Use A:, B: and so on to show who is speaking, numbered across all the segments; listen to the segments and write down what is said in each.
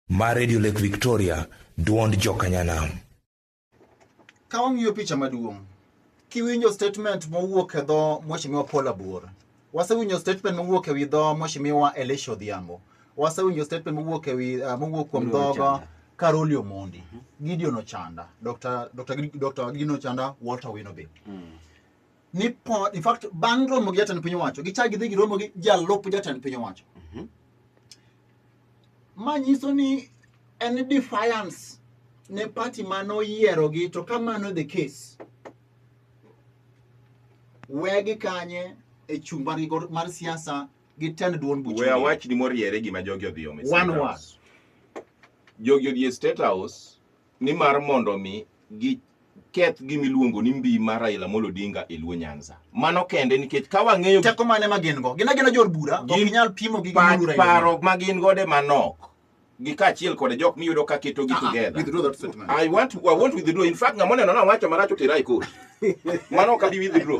A: Mar Radio Lake Victoria, duond jokanyanam. Ka wang'iyo
B: picha maduong', kiwinjo statement mowuok e dho Mheshimiwa Paul Abor, wasewinjo statement mowuok e wi dho Mheshimiwa Elisha Odhiambo, wasewinjo statement mowuok e wi uh, mowuok kuom Gideon dhoga Ochanda. Karoli Omondi, Gideon Ochanda, Dr. Dr. Gid- Dr. Gideon Ochanda, Walter Winobi. ni po, in fact bang' romo gi jatend piny owacho gichak gidhi giromo gi jalup jatend piny owacho Mhm. ma nyiso ni en defiance ne party ma noyierogi to ka mano the case wegi kanye e chung' margi go- mar siasa gi tend duond buch we Odiem. awach ni moriere
C: gima jogi odhi omo e One State word. House. jogi odhi e state house ni mar mondo mi gi keth gima iluongo ni mbi mar Raila Amolo Odinga e Luo Nyanza. Mano kende nikech ka wang'eyo teko mane ma gin go.
B: Gin agina jor bura, ok inyal pimo gi gimuru Raila. Paro ma gin gode
C: manok gi kaachiel kod jok miyudo ka keto gi ah, ah, together. Withdraw that statement. I
B: want to, I want to
C: withdraw. In fact, ng'ama neno na wacho marach otera e court. Mano ka bi withdraw.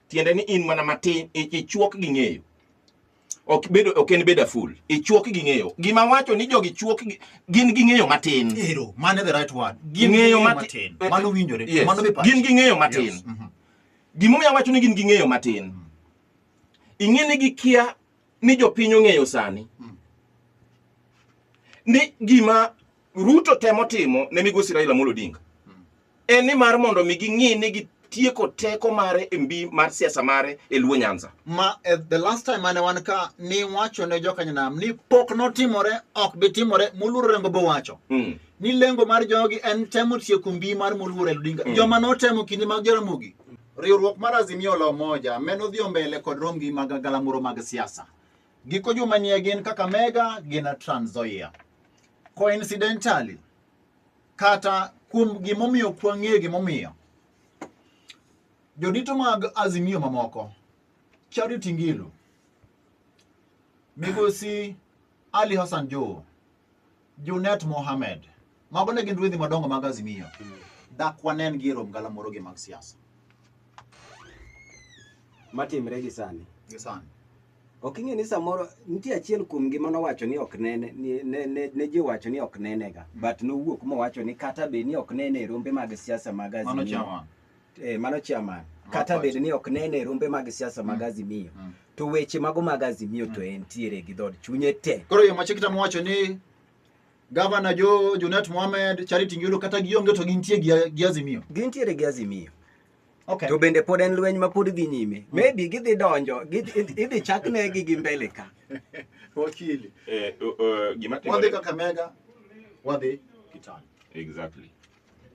C: tiende ni in mana matin ichuok gi ng'eyo ok bedo ok en beda full ichuok gi ng'eyo gima wacho ni jogi chuok gin gi ng'eyo matin ero mane the right
B: word gin ng'eyo matin
C: eh, mano winjore yes. mano
B: be gin gi
C: ng'eyo
B: matin yes.
C: mm -hmm. gima omiyo wacho ni gin gi ng'eyo matin mm -hmm. ing'e ni gikia ni jopiny ong'eyo sani mm -hmm. ni gima Ruto temo timo ne migosi Raila Amolo Odinga mm -hmm. en ni mar mondo mi ging'i ni gitieko teko mare e mbi mar siasa mare e Luo Nyanza. ma eh, the last
B: time mane wan ka ni wacho ne jokanyanam ni pok notimore ok bi timore moluor rengo bo wacho Mm. ni lengo mar jogi en temo tieko mbi mar moluor el odinga Mm. joma notemo kinde mag jaramogi riwruok mar azimio la umoja meno dhi mbele kod romgi mag galamoro mag siasa giko juma nie gin kaka mega gin trans nzoia coincidentally kata kuom gimomiyo ok wang'eyo gimomiyo jodito mag azimio mamoko chadi tingilu migosi ali hassan jowo junet mohamed mago ne gin ruedhi madongo mag azimio dak wanen gi e rom galamoro gi mag siasa
D: matimre gi sani gi sani Ok ing'e ni samoro nitie achiel kuom gi mano wacho ni ok nene ni- ne, ne, ne ji wacho ni ok nenega but nowuok mowacho ni kata bed ni ok nene e rombe mag siasa mag Mano Azimio chairman. eh, mano chairman Ma kata party. bed ni ok nene e rombe mag siasa mag Azimio Mm. to weche mago mag Azimio to entiere gi dhod chunye te Koro yo machikita mowacho
B: ni Gavana Jo Junet Mohamed, Charity Ngilu kata gionge to gintie gi gi Azimio. gintiere gi Azimio
D: Okay. To bende
B: pod en lweny
D: ma pod dhi nyime. Mm. Maybe gidhi donjo, idhi chak ne gi gi mbele ka. Wakili. Eh, uh, uh,
C: gima timore. Wadhi Kakamega,
B: wadhi Kitale. Exactly.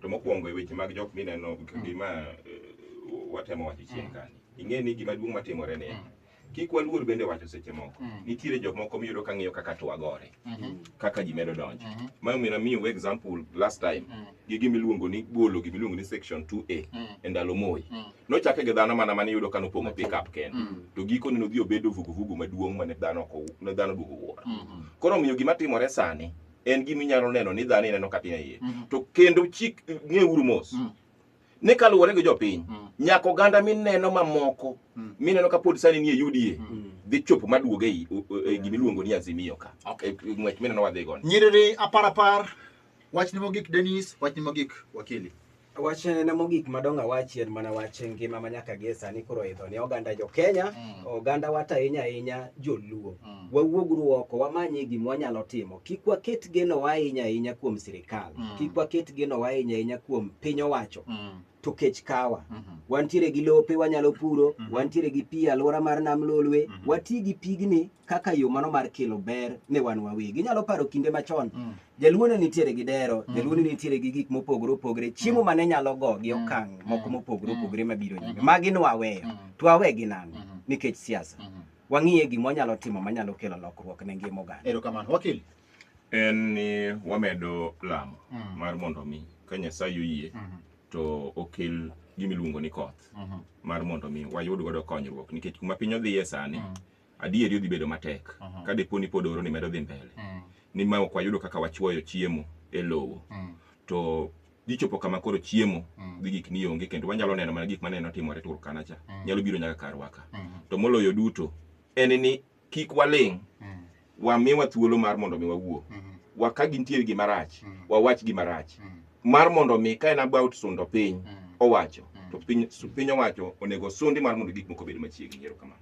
C: To mokwongo e weche mag jok mineno mm. gima uh, watemo wacho chien mm. kani. Ing'e ni gima duong' matimore ni. Mm. kik waluor bende wacho seche moko Mm. nitiere jomoko miyudo ka ng'iyo kaka to wagore Mhm. kaka ji medo donjo Mhm. ma omiyo namiyo example last time Mm. gi gima iluongo ni golo gima iluongo ni section 2a Mm. e ndalo moi Mm. nochake gi dhano mana mane yudo ka nopong'o pickup kende Mm. to gikone nodhi obedo vuguvugu maduong' mane dhano ok ow- ne dhano duogo wuoro Mhm. koro omiyo gima timore sani en gima inyalo neno ni dhano ineno kata e iye Mhm. to kendo chik ng'euru mos Mm. ni kaluwore gi jopiny Mm. nyaka oganda mineno mamoko Mm. mineno ka pod sani nie UDA dhi chopo maduoge i- u- u- e gima iluongo ni Azimio ka Okay. E- e ng'wech mineno wadhi gono nyiriri apar apar
B: wachni mogik denis wachni mogik wakili wach en
D: mogik madongo awachi en mana wach ngima ma nyaka gie sani koro idho ne oganda jo kenya oganda wata ahinya ahinya joluo Mm. Wawuog uru oko, wamanye gima wanyalo timo. Kik waket genowa ahinya ahinya kuom sirikal. Mm. Kik waket genowa ahinya ahinya kuom piny owacho. Mm. To kech kawa. Mhm. Wantiere gi lope wanyalo puro, Mhm. wantiere gi pi e alwora mar nam lolwe, Mhm. wati gi pigni kaka yo mano mar kelo ber ne wan wawegi. Inyalo paro kinde machon, Mm. jaluo ne nitiere gi dero, Mhm. jaluo ne nitiere gi gik mopogore opogore, chiemo ma ne nyalo go gi Mhm. okang' moko Mhm. mopogore Mhm. opogore mabiro nyime. Mhm. Magi nwaweyo, Mhm. to wawegi nang' Mhm. nikech siasa. Mhm. wang'iye gima wanyalo timo manyalo kelo lokruok ne ngima oganda. Erokamano. Wakili. En
C: ni wamedo lamo Mm. mar mondo mi ka Nyasaye oyie Mhm. to okel gima iluongo ni koth Mhm. mar mondo mi wayud godo konyruok nikech kuma piny odhiye sani Mm. adieri odhi bedo matek Mhm. ka dipo ni pod oro ni medo dhi mbele Mm. ni ma ok wayudo kaka wachuoyo chiemo e lowo Mm. to Gichopo kama koro chiemo mm. gi gik mionge kendo wanyalo neno mana gik maneno timore Turkana cha mm. nyalo biro nyaka karwa ka. Mm. To moloyo duto en ni kik waling' mm. wamiwa thuolo mar mondo mi wawuo. Mm. Wa ka gintiere gima rach, mm. wawach gima rach. Mm. Mar mondo mi ka en about sundo piny mm. owacho mm. to piny, piny owacho onego sundi mar mondo gik moko obed machiegni. Erokamano.